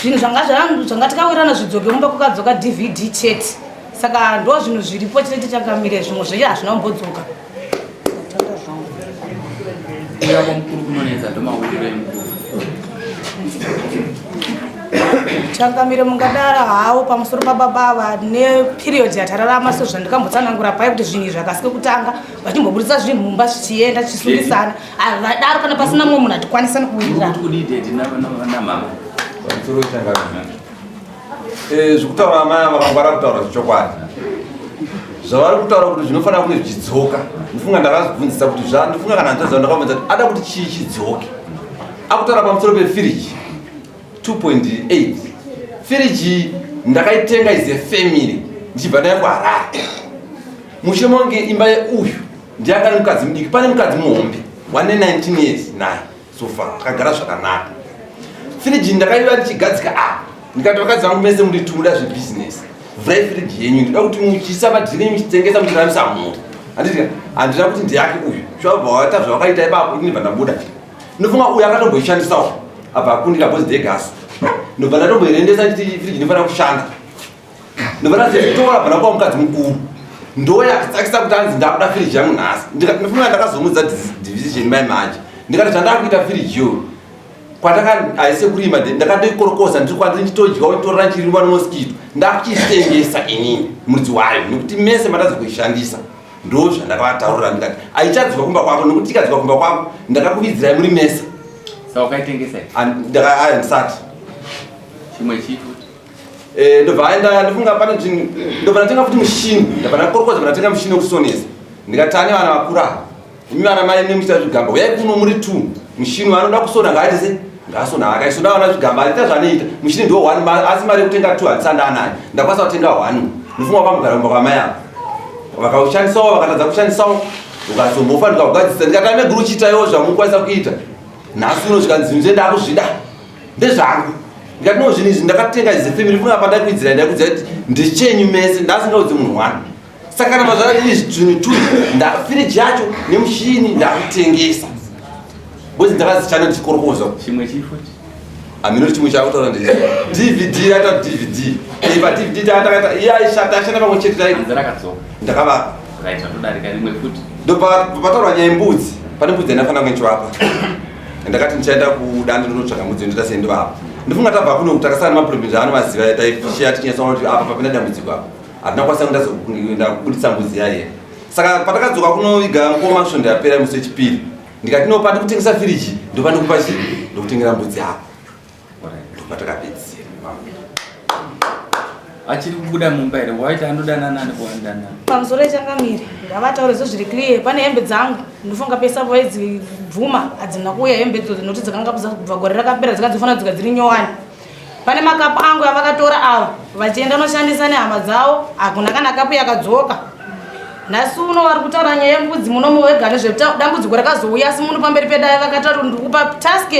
zvinhu zvanga zvangu zvanga takawirirana zvidzoke mumba kukadzoka dvd chete saka ndo zvinhu zviripo chete tichakamire zvimwe zveche hazvina kumbodzoka changamire mungadara hawo pamusoro pababava neperiod yatararama sezvandikambotsanangura pai kuti zvinhu izvi akasike kutanga vachimboburitsa zvinhu mumba zvichienda zvichisundisana Havadaro kana pasina mumwe munhu atikwanisa nekuwirirana. Eh, zvekutaura amai ava vakangwara kutaura zvechokwadi zvavari kutaura kuti zvinofanira kunge zvichidzoka ndifunga ndakazvibvunzisa kuti zvandifunga kana hanzvadzi vandakabvunza kuti ada kuti chii chidzoke akutaura pamusoro pefiriji 2.8 firiji ndakaitenga is a family ndichibva nayo kuharare mushe monge imba yeuyu ndiani kani mukadzi mudiki pane mukadzi muhombe wane 19 years naye sofa akagara zvakanaka firiji ndakaiva ndichigadzika apa ah, ndikati vakadzi vangu mese muri tumuda zvebusiness vhurai firiji yenyu ndida kuti muchisa madhiri enyu muchitengesa muchiramisa mhuri anditi handina kuti ndiyake uyu zvabva waita zvavakaita ipapo ini ndibva ndabuda ndinofunga uyu akatomboishandisawo abva akundira bhozi degasi ndobva ndatomboirendesa chiti firiji inofanira kushanda Ndovana zvitora bana kwa mukadzi mukuru. Ndoya akisakisa kuti anzi ndakuda firiji yangu nhasi. Ndikafunga ndakazomudza division mai manje. Ndikati zvandakuita firiji yo. Kwataka aise kurima ndakatoikorokosa ndiri kwandiri ndichitodya otorera chirimo no mosquito. Ndakuchitengesa inini mudzi wayo nekuti mese matadza kuishandisa. Ndozvandakavataurira ndikati aichadzwa kumba kwako nekuti ikadzwa kumba kwako ndakakuvidzirai muri mese. Saka ukaitengesa? Ndaka ndisati. Chimwe chitu Eh, ndobva aenda ndofunga pane zvinhu ndobva ndatenga futi mushini ndabva ndakorokodza bva ndatenga mushini wekusonesa ndikati ane vana vakura imi vana mai nemuchita zvigamba uyai kuno muri two mushini waanoda kusona ngaaite se ngaasona akaisona vana zvigamba aita zvaanoita mushini ndo one asi mari yekutenga two handisanda anayo ndakwanisa kutenga one ndofunga kwamugara kumba kwamai avo vakaushandisawo vakatadza kushandisawo ukazombofa ndikakugadzisa ndikati ane guru chiitaiwo zvamukwanisa kuita nhasi uno zvikanzi zvinhu zve ndakuzvida ndezvangu ndikati no zvinhu izvi ndakatenga izi family funga apa ndakuidzira ndakuidza kuti ndichenyu mese ndasingaudzi munhu wani saka kana mazvara izvi zvinhu tu ndafiriji yacho nemushini ndakutengesa bcoz ndakazichana ndichikorokoza chimwe chifo hamino chimwe chakutaura ndi dvd yaita dvd iva dvd taatakaita iye aishata ashanda pamwe chete taii ndakavapa ndopataura nyaya mbudzi pane mbudzi yanafanira kunchivapa ndakati ndichaenda kudande ndonotsvaga mudziyo ndoita sei ndovapa ndifunga tabva kuno kuti takasana nemaproblem aanomaziva taifisheya tichinyatsaona kuti apa papinda dambudziko apa hatina kwasa kuenda kubudisa mbuzi yaiye saka patakadzoka kunoviga mukoma svondo yapera musi wechipiri ndikati no pandikutengesa firiji ndopandikupa chii ndokutengera mbudzi yako achiri kubuda mumba here waita anodana nani kuandana pamusoro echangamire ngavataure zvo zviri clear pane hembe dzangu ndofunga pesa vaidzi bvuma hadzina kuuya hembe dzo dzinoti dzakanga kubva gore rakapera dzikanga dzofanira dzika dziri nyowani pane makapu angu avakatora ava vachienda unoshandisa nehama dzavo hakuna kana kapu yakadzoka nhasi uno vari kutaura nyaya yembudzi muno muwega nezvedambudziko rakazouya asi muno pamberi pedaya vakatati ndikupa task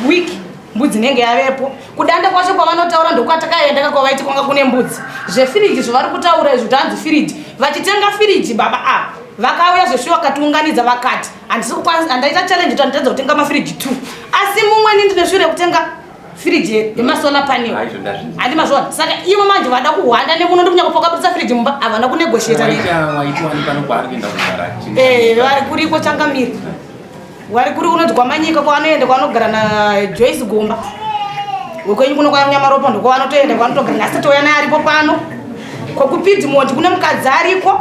week mbudzi inenge yavepo kudanda kwacho kwavanotaura ndokwatakaendaka kwavaiti kwanga kune mbudzi zvefiriji zvavari kutaura izvi kuti hanzi firiji vachitenga firiji baba a vakauya zvesvi vakatiunganidza vakati handisi kukwanisa handaita challenge kuti handitadza kutenga mafiriji two asi mumwe ni ndine shure yekutenga firiji yemasola panel handi mazvona saka ivo manje vada kuhwanda nemuno ndi kunyaka pakaputsa firiji mumba havana kunegosheta eh, vari kuriko changamiri wari kuri kunoti kwamanyika kwavanoenda kwavanogara najoyce gomba wekwenyu kuno kwaanyamaropa ndokwavanotoenda kwavanotogara asi touya naye aripo pano kokupidzi mondi kune mukadzi ariko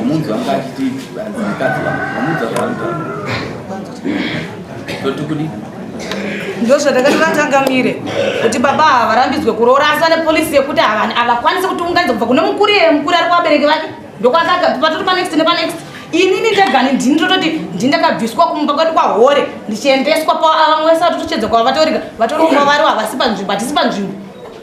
omunzi wangu achiti mukadzi wangu omunzi wangu totikudii ndozvatakati vatangamire kuti baba ava varambidzwe kuroora asi vane polisi yekuti havakwanisi kutiunganidza kubva kune mukuru iye mukuru ari kuvabereki vake ndokwakaka patori panext nepanext inini ndegani ndini tototi ndindakabviswa kumba kwedu kwahore ndichiendeswa pavamwe vese vatotochedza kwava vatorika vatori kumba vari havasi panzvimbo hatisi panzvimbo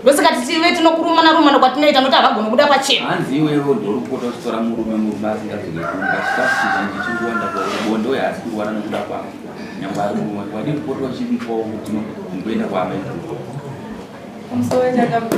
ndosaka titive tinokurumana rumana kwatinoita noti havagoni kuda pachena hanzi iwewe ndoripota uchitora murume murume asingazvine kumba chikafu chizhinji chiri kuwanda kwaubonde uye haasi kurwara nokuda kwavo nyangwe ari kumwe wadii kupota uchimupawo kuti kumboenda kwaamai kumsowe chakabva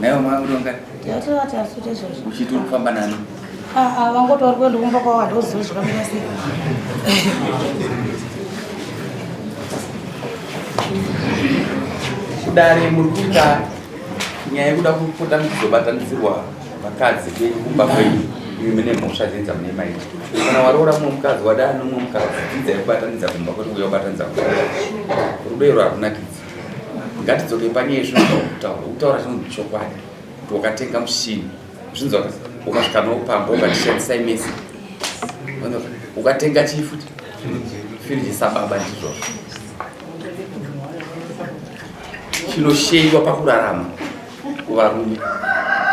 Naiwe mwana uri wangati? Tiyatira vati asute zvozvo. Uchiti uri kufamba nani? Ah ah wangoti wari kuenda kumba kwavo ndoziva zvakamira sei. Kudare muri kuita nyaya yekuda kupota muchizobatanidzirwa vakadzi kwenyu kumba kwenyu imi mune mhosva dzenyu dzamune maita. Kana waroora mumwe mukadzi wadana nomumwe mukadzi dzidzai kubatanidza kumba kwete kuuya kubatanidza kumba. Rudo irwo harunakidzi. Ngatidzoke panyaya yezvinotaura ukutaura zvinhu chokwadi kuti wakatenga mushini zvinzwa ukasvika nawo pamba ukatishandisa imesi ukatenga chii futi firiji sababa ndizvozvo chinosheyiwa pakurarama kuvarume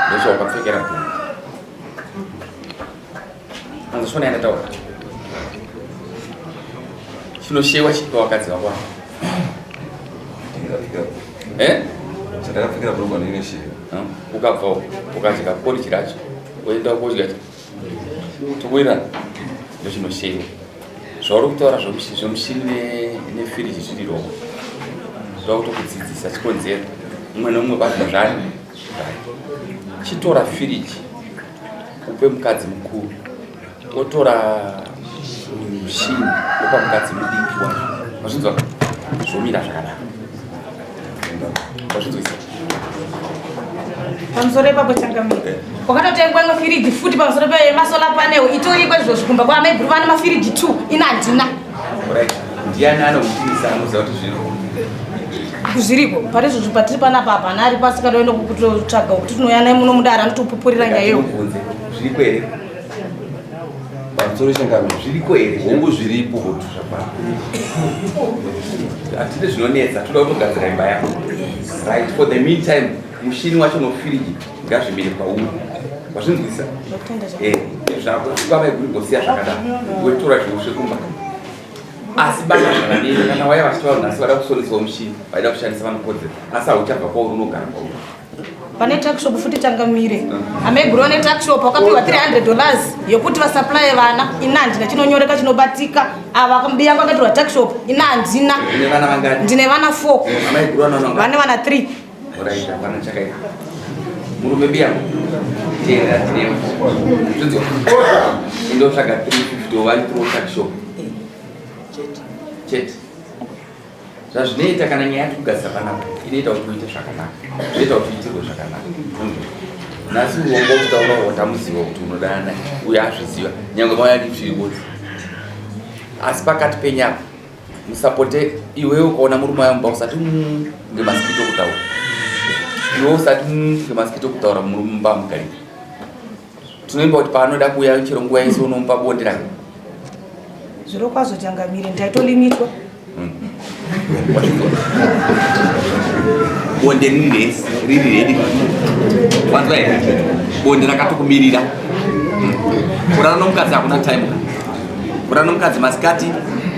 ndozvawakapfekera bhuru anzosvona yandataura chinoshewa chipa vakadzi vako eh? chandakapfekera brugwa neine shewa ukabvawo ukadya poriji racho woenda kodya tokuirana ndochinoshewa zvauri kutaura zvemushini nefiriji zviri roko zvoda kutokudzidzisa chikonzero umwe neumwe basa zvani chitora firiji upe mukadzi mukuru wotora mushini opa mukadzi mudiki wa wazvinzwa zvomira zvakanaka wazvinzwisa pamusoro ipapo changamire eh. wakatotengwa mafiriji futi pamusoro pemasola panel itoriko izvozvo kumba kwaamai guru vane mafiriji two ina handina Ndiani anokutinisa anoziva kuti zviriko? Zviriko. Pari zvozvo patiri panapa hapana ari pasi kana oenda kutotsvaga kuti tinouya naye muno mudare anotopupurira nyaya iyo. Zviriko here? Pamusoro chengano zviriko here? Hongu zviripo kuti zvapapa. Hatide zvinonetsa toda kutogadzira imba yako. Right for the meantime mushini wacho nofiriji ngazvimire pauri. Wazvinzwisa? Eh, zvako kwava iguri ngosiya zvakadaro. Wetora zviushe kumba. asi bana zvakadini kana waya vachitaura nhasi vada kusonisawo mushini vaida kushandisa vanokodzera asi hauchabva kwauri unogara kwauri pane taxshop futi tangamire amaiguru vane taxshop wakapiwa 300 dollars yokuti vasuplye vana ina handina chinonyoreka chinobatika ava mbiya kwakatirwa taxshop ina handina ndine vana 4 vane vana 3 Alright, hapana chakaipa. Murume biya tera tira. Tudzo. Ndo tsvaga 350 ovali pro chat shop. Chat. Zvazvinoita kana nyaya yati kugadzira panapa inoita kuti uite zvakanaka. Zvinoita kuti uitirwe zvakanaka. Nhasi uongo kutaura watamuziva kuti unodana uye azviziva. Nyangwe mauya ndichiri kuti. Asi pakati penyapa musapote iwewe ukaona murume wayo mumba usati mm, ngemasikito kutaura iwe usati mm, ngemasikito kutaura murume mumba mugari tinoimba kuti paanoda kuuya chero nguva yese unomupa bonde rake zviro kwazvo changamire ndaitolimitwa mm. bonde riri rese riri redi vanzwa here bonde rakatokumirira kurara nomukadzi hakuna time Kura nomukadzi masikati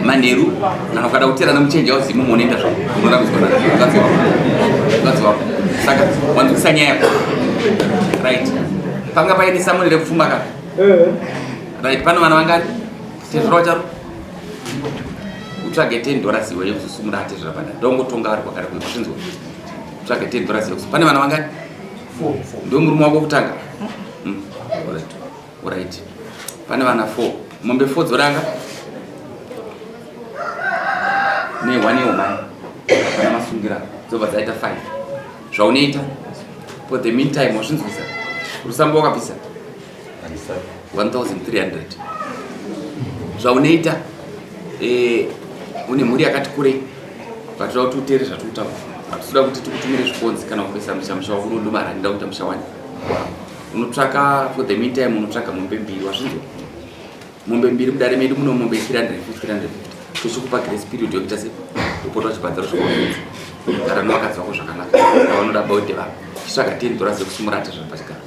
manheru kana ukada kuteerana muchenja uzimu munoenda zvo unorambiswa namukadzi wako mukadzi wako saka wanzwisa nyaya yako right panga paine samuri rekufuma ka eh. right pano vana vangani tezvira wacharo utsvage ten dollars iwe yekuzosumura atezvira panda ndongotonga ari kwakare kuno zvinzwa utsvage ten dollars yekusu pane vana vangani ndomurume wako kutanga mm. Alright. Pane vana 4. Mombe 4 dzoranga. Ne one year mai. Kana masungira dzobva dzaita 5. Zvaunoita for the meantime wazvinzwisa. Rusambo wakabvisa 1300. Zvaunoita eh une mhuri yakati kurei. Vatoda kuti utere zvatutaura. Vatoda kuti tikutumire zvikonzi kana kupesa musha musha wako unodumara ndokuita musha wani. Wow. unotsvaka for the meantime unotsvaga mombe mbiri wazvinzwa mombe mbiri mudare medu muno mombe 350 tochikupa grace period yokuita se upota uchibhadzaro zvakaonza gara nowakadzi wako zvakanaka vanoda baute vavo chitsvaga tendora zekusumura ati zviri pachigaro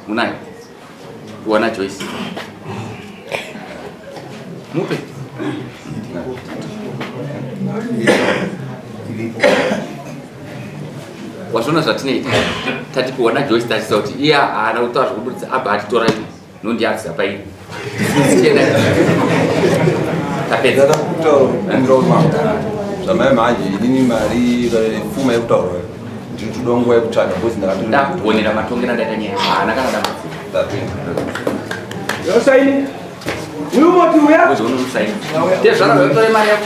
munayo kuwana joyce mupe wazviona zvatinoita tatipiwa najoyce tachisa kuti iye haana kutaura zvekuburitsa abva atitora ini nondiakisa paini zvamai manje inini mari pfuma yekutaura ndinotoda nguva yekutsvaga bcause ndakatoonera matongera ndaita nyaya haana kana damaosaini uyu moti uya tezvara zvatore mari yako